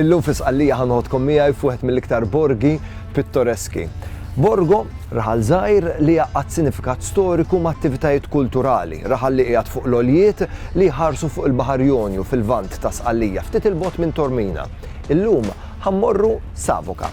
Illum fi Sqallija ħa noħodkom miegħi f'wieħed mill-iktar borgi pittoreski. Borgo, raħal żgħir li jgħaqqad sinifikat storiku ma' attivitajiet kulturali, raħal li qiegħed fuq l-għoljiet li jħarsu fuq il-Baħar Jonju fil-Lvant ta' Sqallija ftit 'il bogħod minn Tormina. Illum ħa mmorru Savoca.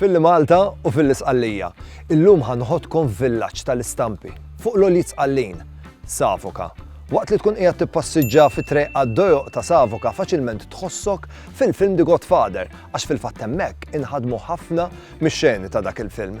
Filli Malta u fil-Isqallija. Illum ħanħodkom villaġġ tal-istampi fuq l-oljiet sqallin, Savoka. Waqt li tkun qiegħed tippassiġġa fi triq għad-dojoq ta' Savoka faċilment tħossok fil-film The Godfather għax fil-fatt hemmhekk inħadmu ħafna mix-xeni ta' dak il-film.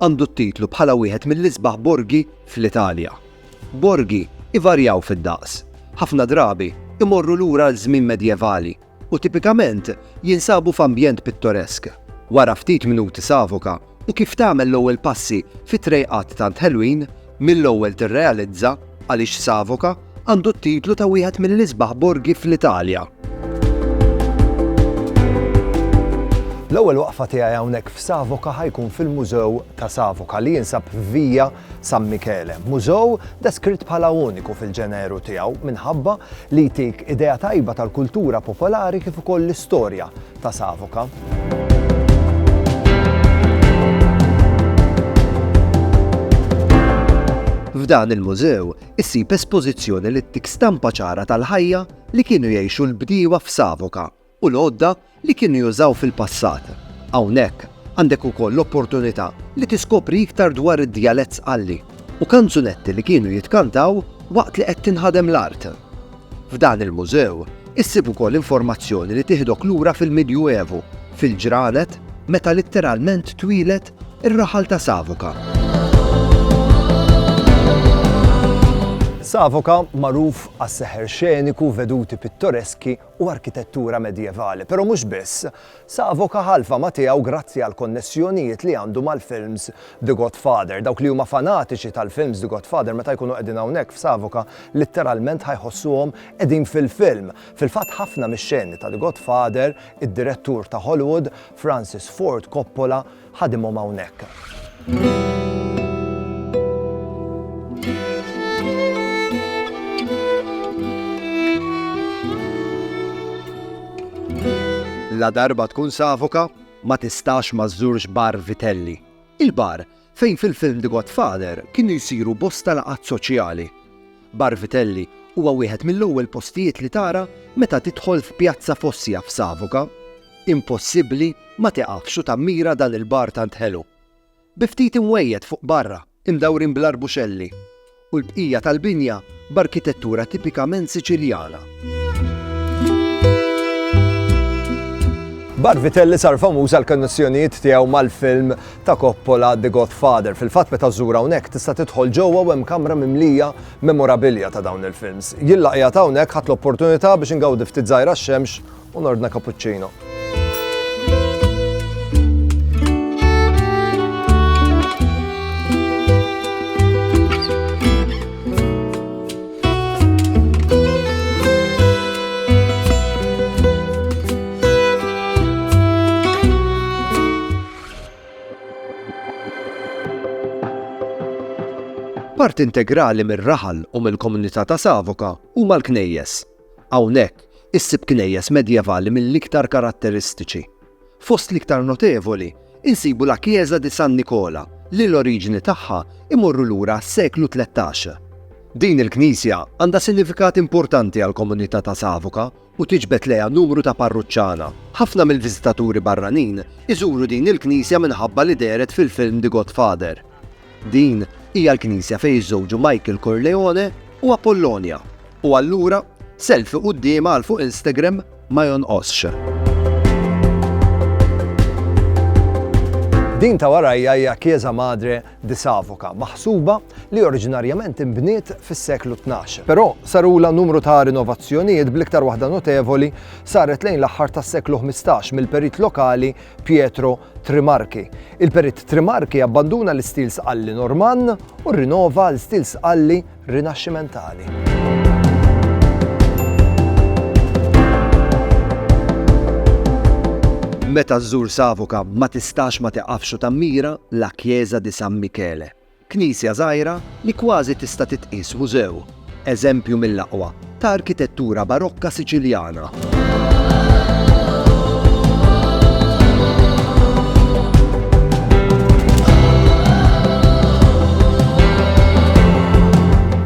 Għandu t-titlu bħala wieħed mill-isbaħ borgi fl-Italja. Borgi ivarjaw fid-daqs, ħafna drabi imorru lura għal żmien medjevali u tipikament jinsabu f'ambjent pittoresk. Wara ftit minuti savoka u kif tagħmel l-ewwel passi fi trejqat tant ħelwin Mill-ewwel tirrealizza għaliex Savoca għandu t-titlu ta' wieħed mill-isbaħ borgi fl-Italja. L-ewwel waqfa tiegħi hawnhekk f'Savoca ħa jkun fil-Mużew ta' Savoca li jinsab f'Via San Michele. Mużew deskritt bħala uniku fil-ġeneru tiegħu minħabba li jtik idea tajba tal-kultura popolari kif ukoll l-istorja ta' Savoca. F'dan il-mużew issib espożizzjoni li ttik stampa ċara tal-ħajja li kienu jgħixu l-bdiewa f'Savoka u l-għodda li kienu jużaw fil-passat. Hawnhekk għandek ukoll l-opportunità li tiskopri iktar dwar id-djalett Sqalli u kanzunetti li kienu jitkantaw waqt li qed tinħadem l-art. F'dan il-mużew issib ukoll informazzjoni li tieħdok lura fil-Midjuevu, fil-ġranet meta litteralment twieled ir-raħal ta' Savoca. Savoca magħruf għas-seħer xeniku, veduti pittoreski u arkitettura medjevali, però mhux biss. Savo Cahalva ma' tiegħu grazzi għall-konnessjonijiet li għandu mal-films The Godfather. Dawk li huma fanatiċi tal-films The Godfather meta jkunu qegħdin hawnhekk f'Savoca litteralment ħa jħossuhom qegħdin fil-film. Fil-fatt ħafna mix-xeni ta' The Godfather id-direttur ta' Hollywood, Francis Ford Coppola, ħadimhom hawnhekk. Ladarba tkun Savoka, ma tistax ma żżurx Bar Vitelli. Il-bar fejn fil-film The Godfather kienu jsiru bosta laqgħat soċjali. Bar Vitelli huwa wieħed mill-ewwel postijiet li tara meta tidħol f'Pjazza Fossja f'Savoca. Impossibbli ma tieqafx u tammira dan il-bar tant ħelu. Bi ftit imwejjed fuq barra, imdawrin bl-arbuxelli, u l-bqija tal-binja b'arkitettura tipikament Siċiljana. Bar Vitelli sar famuż għall-konnessjonijiet tiegħu mal-film ta' Coppola, The Godfather. Fil-fatt meta żżur hawnhekk tista' tidħol ġewwa u hemm kamra mimlija memorabilia ta' dawn il-films. Jien la qiegħed hawnhekk ħadt l-opportunità biex ingawdi ftit żgħira x-xemx u nordna cappuccino. Parti integrali mir-raħal u mill-komunità ta' Savoca huma l-knejjes. Hawnhekk issib knejjes medjevali mill-iktar karatteristiċi. Fost l-iktar notevoli insibu la Chiesa di San Nicola li l-oriġini tagħha imorru lura għas-seklu tlettax. Din il-knisja għandha sinifikat importanti għall-komunità ta' Savoca u tiġbed lejha numru ta' parruċċana. Ħafna mill-viżitaturi barranin iżuru din il-knisja minħabba li dehret fil-film The Godfather. Din hija l-knisja fejn jiżżewġu Michael Corleone u Apollonia, u allura selfie quddiemha għal fuq Instagram ma jonqosx. Din ta' warajja hija Chiesa Madre di Savoca, maħsuba li oriġinarjament inbniet fis-seklu tnax. Però sarulha numru ta' rinovazzjonijiet bl-iktar waħda notevoli saret lejn l-aħħar tas-seklu ħmistax mill-perit lokali Pietro Trimarchi. Il-perit Trimarchi abbanduna l-istil sqalli Normann u rrinova għal stil sqalli Rinaxximentali. Meta żżur Savoca ma tistax ma tiqafx u tammira La Chiesa di San Michele, knisja żgħira li kważi tista' titqies mużew, eżempju mill-aqwa ta' arkitettura Barokka Siċiljana.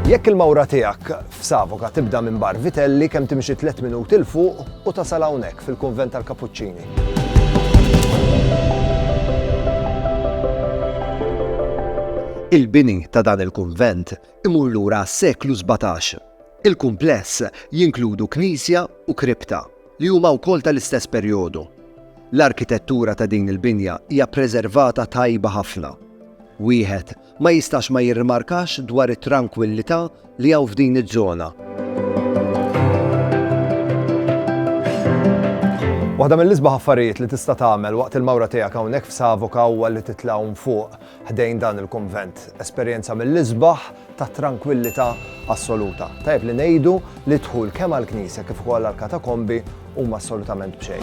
Jekk il-mawra tiegħek f'Savoka tibda minn Bar Vitelli kemm timxi tliet minuti 'l fuq u tasal hawnhekk fil-Kunvent tal-Kapuċċini. Il-bini ta' dan il-kunvent imur lura għas-seklu sbatax. Il-kumpless jinkludu knisja u kripta, li huma wkoll tal-istess perjodu. L-arkitettura ta' din il-binja hija ppreservata tajba ħafna. Wieħed ma jistax ma jirrimarkax dwar it-trankwillità li hawn f'din iż-żona. Waħda mill-isbaħ affarijiet li tista' tagħmel waqt il-mawra tiegħek hawnhekk f'Savoca huwa li titla' hawn fuq. ħdejn dan il-kunvent, esperjenza mill-isbaħ ta' trankwillità assoluta. Tajjeb li ngħidu li d-dħul kemm għall-knisja kif ukoll għall-katakombi huma assolutament b'xejn.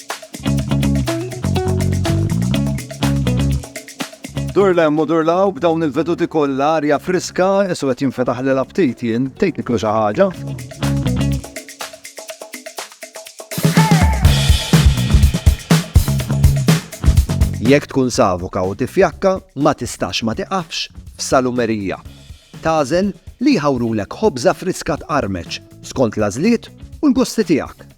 Dur lem u dur law b'dawn il-veduti kollha arja friska, isu qed jinfetaħ lil aptit jien, tgħid niklu xi ħaġa. Jekk tkun savuka u tifjakka, ma tistax ma tiqafx f'salumerija. Tażel li jħawrulek ħobża friska tqarmeċ skont l-għażliet u l-gusti tiegħek.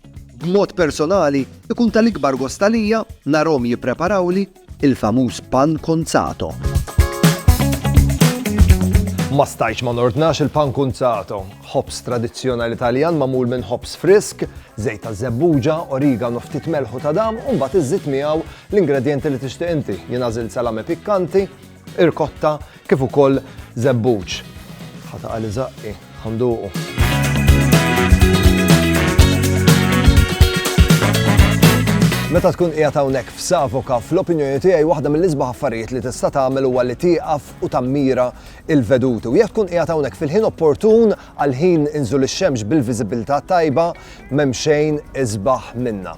B'mod personali, ikun tal-ikbar gost għalija narahom jippreparawli il-famuż pan cunzato. Ma stajtx ma nordnax il-pan cunzato, ħobż tradizzjonali Taljan magħmul minn ħobż frisk, żejt ta' żebbuġa, origano, ftit melħu ta' dam u mbagħad iżżid miegħu l-ingredjenti li tixtieq inti. Jien għażilt salame pikkanti, irkotta kif ukoll żebbuġ. Ħata għali zaqqi, ħanduqu. Meta tkun qiegħed hawnhekk f'Savoka, fl-opinjoni tiegħi waħda mill-isbaħ affarijiet li tista' tagħmel huwa li tieqaf u tammira il-veduti. U jekk tkun qiegħed hawnhekk fil-ħin opportun għal ħin inżul ix-xemx bil-viżibilità tajba, m'hemm xejn isbaħ minna.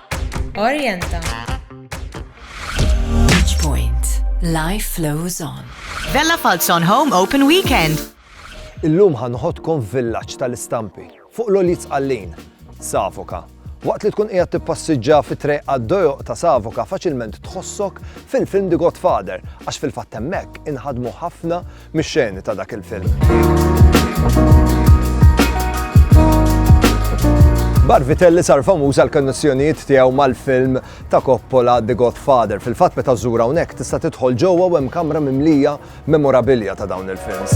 Orienta. Beach Point. Life flows on. Vella Falzon Home Open Weekend. Illum ħanħodkom villaġġ tal-istampi fuq l-oliz għallin, Savoka. Waqt li tkun qiegħed tippassiġġa fi treq għad-dojoq ta' Savoka faċilment tħossok fil-film The Godfather għax fil-fatt hemmhekk inħadmu ħafna mix-xeni ta' dak il-film. Barvitelli sar famuż għal konnessjonijiet tiegħu mal-film ta' Coppola The Godfather. Fil-fatt meta żżur hawnhekk tista' tidħol ġewwa u hemm kamra mimlija memorabilia ta' dawn il-films.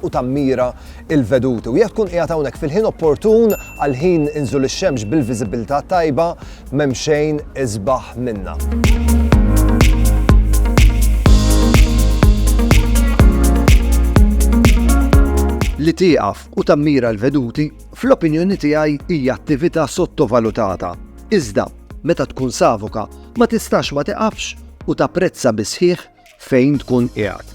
u tammira l-veduti. U jekk tkun qiegħed hawnhekk fil-ħin opportun għal ħin inżul ix-xemx bil-viżibilità tajba, m'hemm xejn isbaħ minnha. Li tieqaf u tammira l-veduti, fl-opinjoni tiegħi hija attività sottovalutata. Iżda, meta tkun savoka, ma tistax ma tiqafx u tapprezza bisħiħ fejn tkun qiegħed.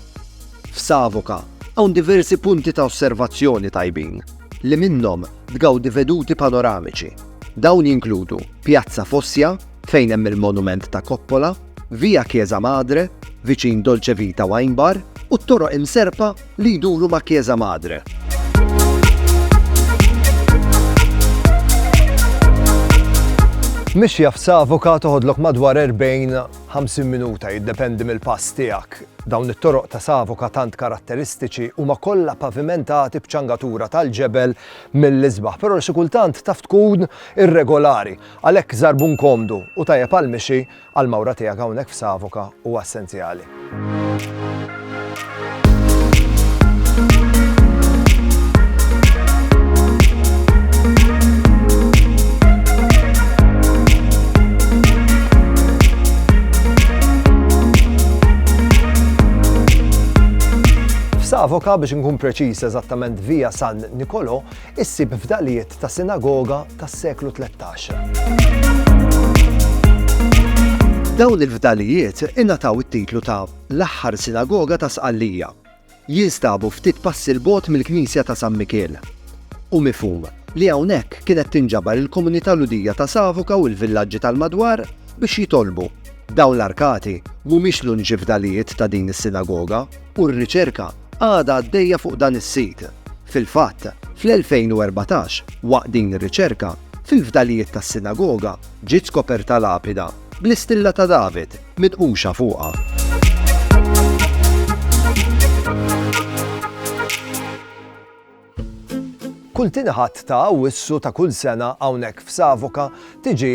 F'Savoca hawn diversi punti ta' osservazzjoni tajbin li minnhom tgawdi veduti panoramiċi. Dawn jinkludu Piazza Fossia fejn hemm il-monument ta' Coppola, Via Chiesa Madre viċin Dolce Vita Wine Bar u t-toroq imserrpa li jduru ma' Chiesa Madre. Mixja f'Savoca toħodlok madwar 40 50 minuta, jiddependi mill-pass tiegħek. Dawn it-toroq ta' Savoca tant karatteristiċi huma kollha pavimentati b'ċangatura tal-ġebel mill-isbaħ, però xi kultant taf tkun irregolari. Għalhekk żarbun komdu u tajjeb għall-mixi għall-mawra tiegħek hawnhekk f'Savoca huwa essenzjali. Savoka biex nkun preċiż eżattament via San Nikolò, issib fdalijiet ta' sinagoga tas-seklu 13. Dawn il-fdalijiet ingħataw it-titlu ta' L-aħħar sinagoga ta' Sqallija. Jinstabu ftit passi 'l bogħod mill-knisja ta' San Mikiel. Hu mifhum li hawnhekk kienet tinġabar il-komunità Lhudija ta' Savoca u l-villaġġi tal-madwar biex jitolbu. Dawn l-arkati mhumiex l-uniċi fdalijiet ta' din is-sinagoga u r-riċerka għadha għaddejja fuq dan is-sit. Fil-fatt, fl-2014, waqt din ir-riċerka, fil-fdalijiet tas-sinagoga ġiet skoperta lapida. Bl-istilla ta' David mitquxa fuqha. Kull tieni Ħadd ta' Awwissu ta' kull sena hawnhekk f'Savoca tiġi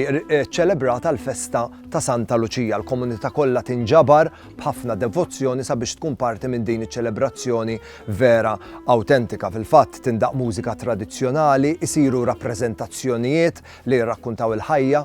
ċċelebrata l-festa ta' Santa Luċija. L-komunità kollha tinġabar b'ħafna devozzjoni sabiex tkun parti minn din iċ-ċelebrazzjoni vera awtentika. Fil-fatt, tindaqq mużika tradizzjonali, isiru rappreżentazzjonijiet li jirrakkuntaw il-ħajja,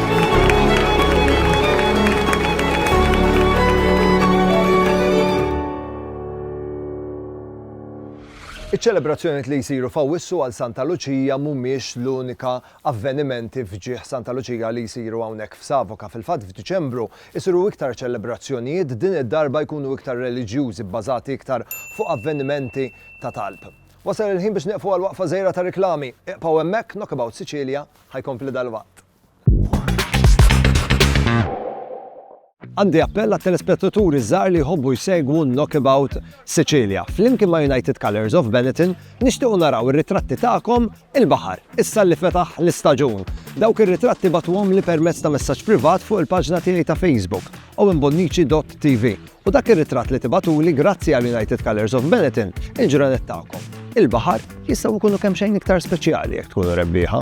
Iċ-ċelebrazzjonijiet li jsiru f'Awwissu għal Santa Luċija mhumiex l-unika avvenimenti f'ġieħ Santa Luċija li jsiru hawnhekk f'Savoka. Fil-fatt f'Diċembru isiru iktar ċelebrazzjonijiet din id-darba jkunu iktar reliġjużi bbażati iktar fuq avvenimenti ta' talb. Wasal il-ħin biex nieqfu għal waqfa żgħira ta' riklami. Iqpaw hemmhekk, Knockabout Sicilia. ħa jkompli dalwaqt. Għandi appell għat-telespettaturi żgħar li jħobbu jsegwu Knockabout Sicilia. Flimkien ma' United Colors of Benetton nixtiequ naraw ir-ritratti tagħkom il-baħar, issa li fetaħ l-istaġun. Dawk ir-ritratti batuhom li permezz ta' messaġġ privat fuq il-paġna tiegħi ta' Facebook, owenbonnici.tv. U dak ir-ritratt li tibgħatuli grazzi għal United Colors of Benetton, il-ġranet tagħkom. Il-baħar jistgħu jkunu kemm xejn iktar speċjali jekk tkunu rebbieħa.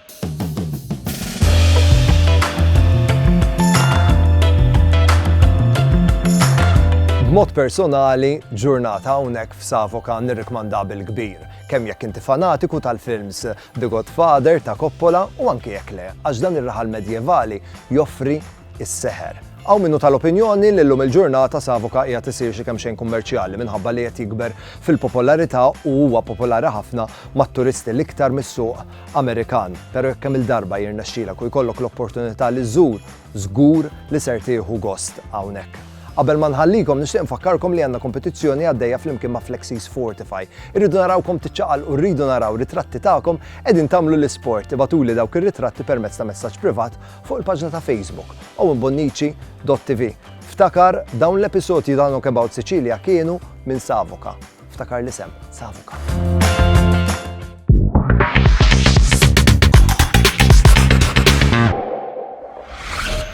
B'mod personali, ġurnata hawnhekk f'Savoka nirrikmanda bil-kbir, kemm jekk inti fanatiku tal-films The Godfather ta' Coppola u anke jekk le, għax dan ir-raħal medjevali joffri is-seħer. Għaw minnu tal-opinjoni li llum il-ġurnata Savoka hija tisir xi kemm xejn kummerċjali minħabba li qed jikber fil-popolarità u huwa popolari ħafna mat-turisti l-iktar mis-suq Amerikan, pero jekk kemm-il darba jirnexxilek u jkollok l-opportunità li żżur, żgur li ser tieħu gost hawnhekk. Qabel ma nħallikom nixtieq nfakkarkom li għandna kompetizzjoni għaddejja flimkien ma' Flexies Fortify. Irridu narawkom tiċċaqalqu rridu naraw ritratti tagħkom qegħdin tagħmlu l-isport. Ibgħatuli dawk ir-ritratti permezz ta' messaġġ privat fuq il-paġna ta' Facebook owenbonnici.tv. Ftakar, dawn l-episodji ta' Knockabout Sicilia kienu minn Savoca. Ftakar l-isem, Savuka.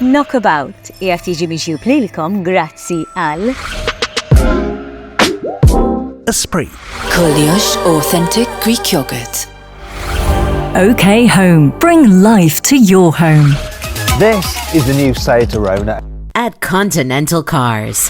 Knockabout qiegħed jiġi miġjub lilkom grazzi għal Esprit. Koljox Authentic Greek Yogurt. OK Home. Bring life to your home. This is the new Sayatarona. At Continental Cars.